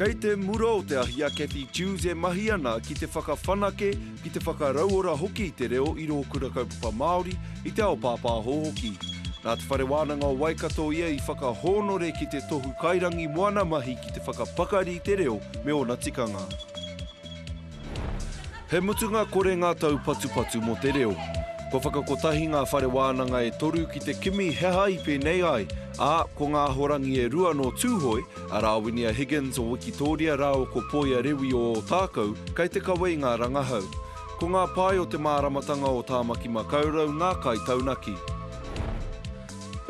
Kei te mura o te ahi a Cathy Dewes e mahi ana ki te whakawhanake, ki te whakarauora hoki i te reo i rō Kura Kaupapa Māori, i te ao pāpāho hoki. Nā Te Whare Wānanga o Waikato ia i whakahōnore ki te Tohu Kairangi Moana mahi ki te whakapakari i te reo me ōna tikanga. He mutunga kore ngā taupatupatu mō te reo. Kua whakakotahi ngā whare wānanga e toru ki te kimi he aha i pēnei ai, ā, ko ngā ahorangi e rua nō Tūhoe, a Rāwinia Higgins o Wikitōria rāua ko Poia Rewi o Ōtākou, kei te kawe i ngā rangahau. Ko ngā pae o te māramatanga o Tāmaki Makaurau ngā kaitaunaki.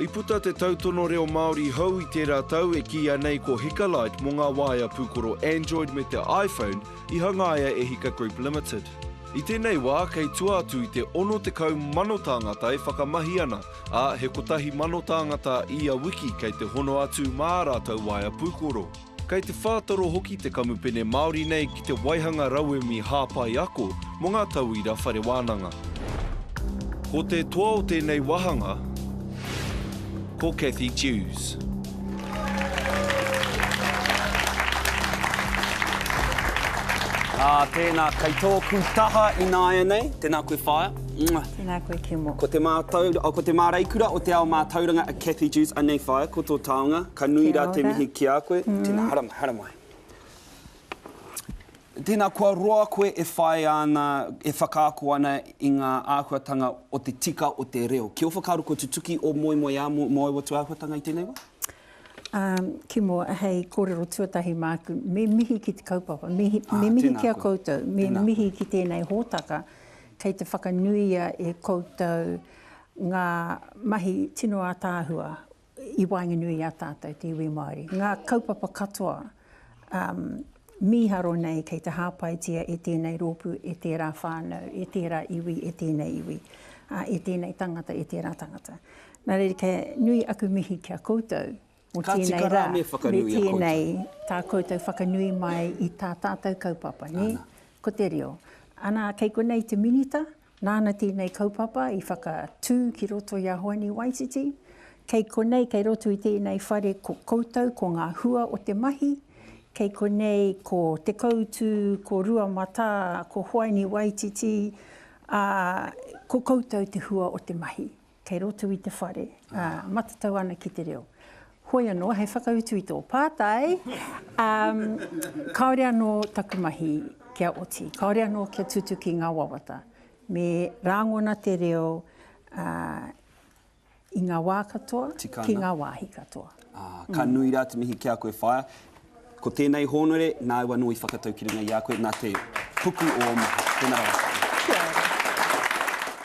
I puta te tautono reo Māori hou i tērā tau e kīia nei ko Hikalight mō ngā waea pūkoro Android me te iPhone, I hangaia e Hika Group Limited. I tēnei wā, kei tua atu i te 60 mano tāngata e whakamahi ana, ā, he kotahi mano tāngata ia wiki kei te hono atu mā ā rātou waea pūkoro. Kei te whātoro hoki te kamupene Māori nei ki te waihanga rauemi hāpai ako mō ngā tauira whare wānanga. Ko te toa o tēnei wāhanga. Ko Cathy Dewes. Ā, tēnā, kei tōku taha ināianei. Tēnā koe whaea. Mwah. Tēnā koe Kemo. Ko te mātau, oh, ko te māreikura o te ao mātauranga a Cathy Dewes. Anei whaea, ko tō taonga. Ka nui rā te mihi ki a koe. Tēnā, haramai, haramai. Tēnā, kua roa koe e whāia ana, e whakaako ana i ngā āhuatanga o te tika o te reo. Ki ō whakaaro kua tutuki ō moemoeā mō ōu atu āhuatanga i tēnei wā? Umm, ki mua, hei kōrero tuatahi māku, me mihi ki te kaupapa, me mihi ki a koutou, me mihi ki tēnei hōtaka kei te whakanuia e koutou ngā mahi tino ātaahua i waenganui i a tātou te iwi Māori. Ngā kaupapa katoa mīharo nei kei te hāpaitia e tēnei rōpū, e tērā whānau, e tērā iwi, e tēnei iwi, e tēnei tangata, e tērā tangata. Nā reira, kia nui aku mihi ki a koutou mō tēnei rā, me tēnei tā koutou whakanui mai i tā tātou kaupapa, nē? Ko te reo. Anā, kei konei te Minita, Nāna tēnei kaupapa i whakatū ki roto i a Hoani Waititi. Kei konei, kei roto i tēnei whare ko koutou, ko ngā hua o te mahi. Kei konei ko Te Koutu, ko Rua Matā, ko Hoani Waititi, ā, ko koutou te hua o te mahi. Kei roto i te whare, ā, matatau ana ki te reo. Hoi anō, hei whakautu i tō pātai, ā, kāore anō taku mahi kia oti, kāore anō kia tutuki ngā wawata. Me rāngona te reo, ā, i ngā wā katoa, ki ngā wāhi katoa. Ā, ka nui rā te mihi ki a koe, Whaea. Ko tēnei hōnore, nāu anō i whakatau ki runga i a koe, nā te puku o ō mahi. Tēnā rawa. Kia ora.